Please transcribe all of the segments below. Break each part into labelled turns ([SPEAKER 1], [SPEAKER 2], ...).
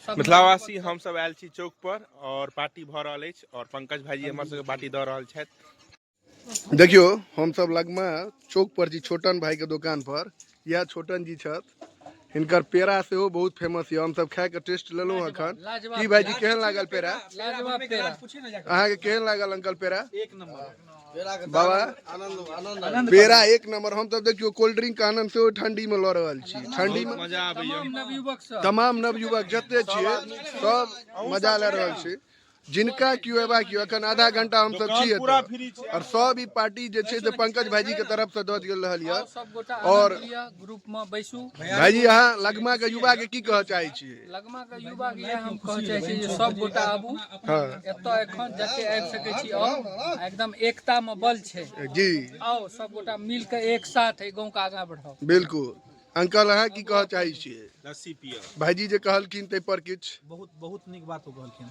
[SPEAKER 1] मिथिलावासी हमसभ आयल छी चौक पर और पार्टी भऽ रहल अछि और पंकज भाईजी हमर सबके पार्टी दऽ रहल छथि देखियो हम
[SPEAKER 2] सब लगमे चौक पर जी छोटन भाई के दुकान पर यह छोटन जी छथि हिनकर पेड़ा सेहो बहुत फेमस यऽ हमसभ खाए के टेस्ट लेलहुँ अखन की भाईजी केहन लागल पेड़ा
[SPEAKER 3] अहाँके केहन
[SPEAKER 2] लागल अंकल पेड़ा
[SPEAKER 3] बाबा
[SPEAKER 2] पेड़ा एक नंबर हम तब देखियो कोल्ड ड्रिंक के आनंद से ठंडी में लऽ रहल छी ठंडी में मजा आबैया तमाम नवयुवक
[SPEAKER 1] सब तमाम नवयुवक
[SPEAKER 2] जते छियै सब मजा लऽ रहल छी जिनका केओ एबाक यऽ एखन आधा घंटा हम सब छी पूरा एतऽ फ्री छै और सब ई पार्टी जे छै से पंकज भाईजी के तरफ से दऽ दियल रहल यऽ सब गोटा और- आनंद लिअ ग्रुप में
[SPEAKER 3] बैसू भाईजी अहाँ
[SPEAKER 2] लगमा के युवा के की कहऽ चाहै छियै लगमा के युवा के
[SPEAKER 3] इएह हम कहऽ चाहै छी जे सब गोटा आबू हाँ एतऽ
[SPEAKER 2] एखन
[SPEAKER 3] जते आबि सकै छी आउ आ एकदम एकता मे बल छै जी आउ
[SPEAKER 2] सब गोटा
[SPEAKER 3] मिल के एक साथ एहि गाँव के आगाँ बढ़ाउ बिल्कुल
[SPEAKER 2] अंकल अहाँ की कहऽ चाहै छियै लस्सी पियऽ
[SPEAKER 1] भाईजी जे कहलखिन
[SPEAKER 2] ताहि पर किछु बहुत बहुत नीक बात ओ
[SPEAKER 4] कहलखिन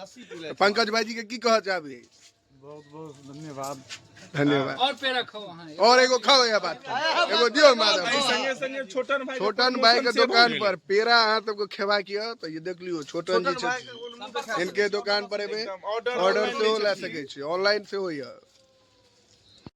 [SPEAKER 2] लस्सी पी ले
[SPEAKER 5] पंकज भाईजी के की कह
[SPEAKER 2] चाहबी बहुत बहुत धन्यवाद
[SPEAKER 5] धन्यवाद
[SPEAKER 3] और पे रखो वहाँ और एगो खाओ
[SPEAKER 2] यह बात एगो दियो माधव संगे संगे छोटन भाई
[SPEAKER 1] छोटन भाई के
[SPEAKER 2] दुकान पर पेड़ा अहाँ सबको खेवा किया तो ये देख लियो छोटन जी छथि। इनके दुकान पर एबे ऑर्डर से हो ला सके छी ऑनलाइन से हो यह